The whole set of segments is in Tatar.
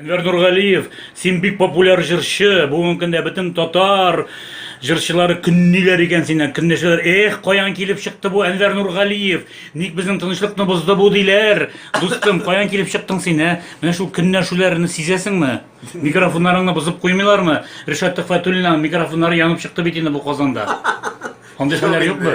Әнвәр Нургалиев, син бик популяр җырчы, бүгенге көндә бөтен татар җырчылары көнниләр икән синнән, көнләшәләр. Эх, каян килеп чыкты бу Әнвәр Нургалиев? Ник безнең тынычлыкны бозды бу диләр? Дустым, каян килеп чыктың син, ә? Менә шул көнләшүләрне сизәсеңме? Микрофоннарыңны бозып куймыйлармы? Ришат Төхфәтуллинның микрофоннары янып чыкты бит инде бу Казанда. Андый хәлләр юкмы?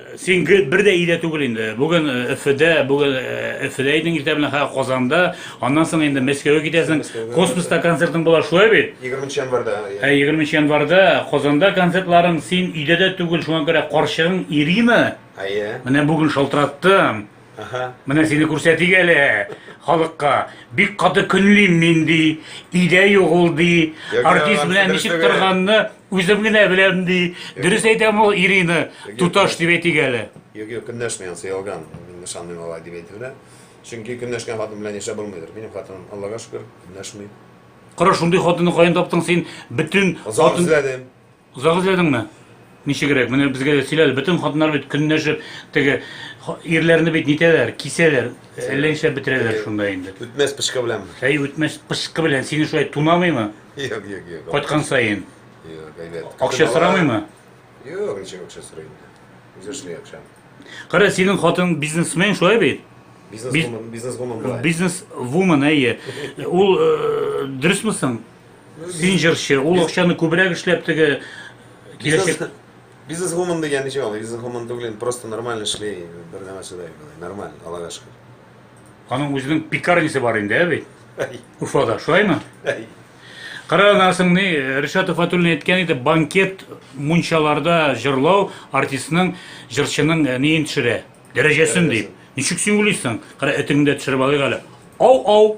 Син гел бер дә өйдә түгел инде. Бүген Өфөдә, бүген Өфөдә идең, иртә белән хәзер Казанда, аннан соң инде Мәскәүгә китәсең. Космоста концертың була, шулай бит? 20 нчы январьда. Ә 20 нчы январьда Казанда концертларың, син өйдә дә түгел, шуңа күрә карчыгың Ирина, әйе, менә бүген шалтыраттым. Ага. Менә сине күрсәтик әле халыкка. Бик каты көнлим мин ди, өйдә юк ул ди. Яки Артист алар белән ничек дөресеге. торганны үзем генә беләм ди. Дөрес әйтәме ул Ирина? Яки Туташ дөрес. дип әйтик әле. Юк, юк, көнләшми анысы ялган. Мин ышанмыйм алай дип әйтеп белә. Чөнки көнләшкән хатын белән яшәп булмыйдыр. Минем хатыным, Аллага шөкер, көнләшми. Кара шундый хатынны каян таптың син? Бөтен Озак хатын эзләдем. Озак эзләдеңме? Ничегрәк, менә безгә дә сөйлә әле, бөтен хатыннар бит көнләшеп теге ирләрне бит нитәләр, кисәләр, әллә нишләп бетерәләр шунда инде. Үтмәс пычкы беләнме? Әй, үтмәс пычкы белән сине шулай тунамыймы? Юк, юк, юк. Кайткан саен. Юк, әйбәт. Акча сорамыймы? Юк, ничек акча сорый инде. Үзе эшли акча. Кара, синең хатын бизнесмен шулай бит? Бизнес-вумен, бизнес-вумен була. Бизнес-вумен, әйе. Ул дөресме соң? Син җырчы, ул акчаны күбрәк эшләп теге киләчәк Бизнес гомум дигән ничек аңлый? Бизнес гомум түгел, просто нормально эшли, бер нәмә сыдай, нормально, Аллага шөкер. Аның үзенең пекарнисе бар инде, ә бит? Уфада, шулаймы? Карагансың ни, Ришат Фатуллин әйткән иде, банкет мунчаларда җырлау артистның, җырчының э, неен төшерә, дәрәҗәсен дип. Ничек син уйлыйсың? Кара, этеңдә төшереп алыйк әле. Ау-ау!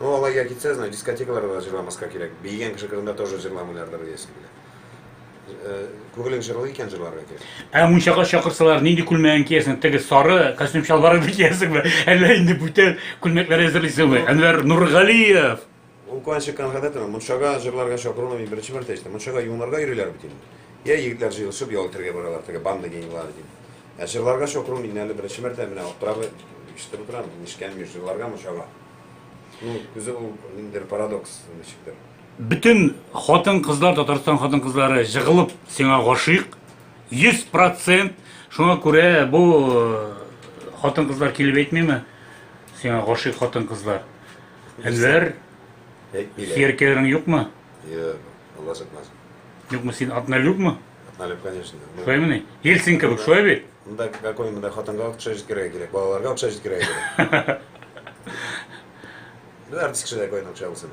Ну алайга китсә, значит дискотекаларда да җырламаска кирәк. Биегән кеше кырында тоже җырламыйлардыр диясем килә. Э, Күңелең җырлый икән җырларга кирәк. Ә мунчага чакырсалар, нинди күлмәген киясең? Теге сары костюм чалбарыңны киясеңме? Әллә инде бүтән күлмәкләр әзерлисеңме? Әнвәр Нургалиев. Ул куанчык конкретно мунчага җырларга чакыруны мин беренче мәртәбә ишеттем. Мунчага юынырга йөриләр бит инде. Я егетләр җыелышып ял итәргә баралар, теге банда генилары дип. Ә җырларга чакыру мин әле беренче мәртәбә менә аптырап ишетеп утырам, нишкәнми җырларга мунчага. Ну, үзе ул ниндидер парадокс ничектер. Бөтен хатын-кызлар, Татарстан хатын-кызлары җыгылып сиңа гашыйк. 100% шуңа күрә бу э, хатын-кызлар килеп әйтмиме? Сиңа гашыйк хатын-кызлар. Әнвәр, Әйтмиләр. сияркәләрең юкмы? Йо, Алла сатмасын. Юкмы син однолюбмы? Налеп, конечно. Ну, Шулаймыни? Ельцин кебек, шулай бит? Монда какой монда хатынга акча җиткерергә кирәк, балаларга акча җиткерергә кирәк. Без артист кешеләр кайдан акча алсын?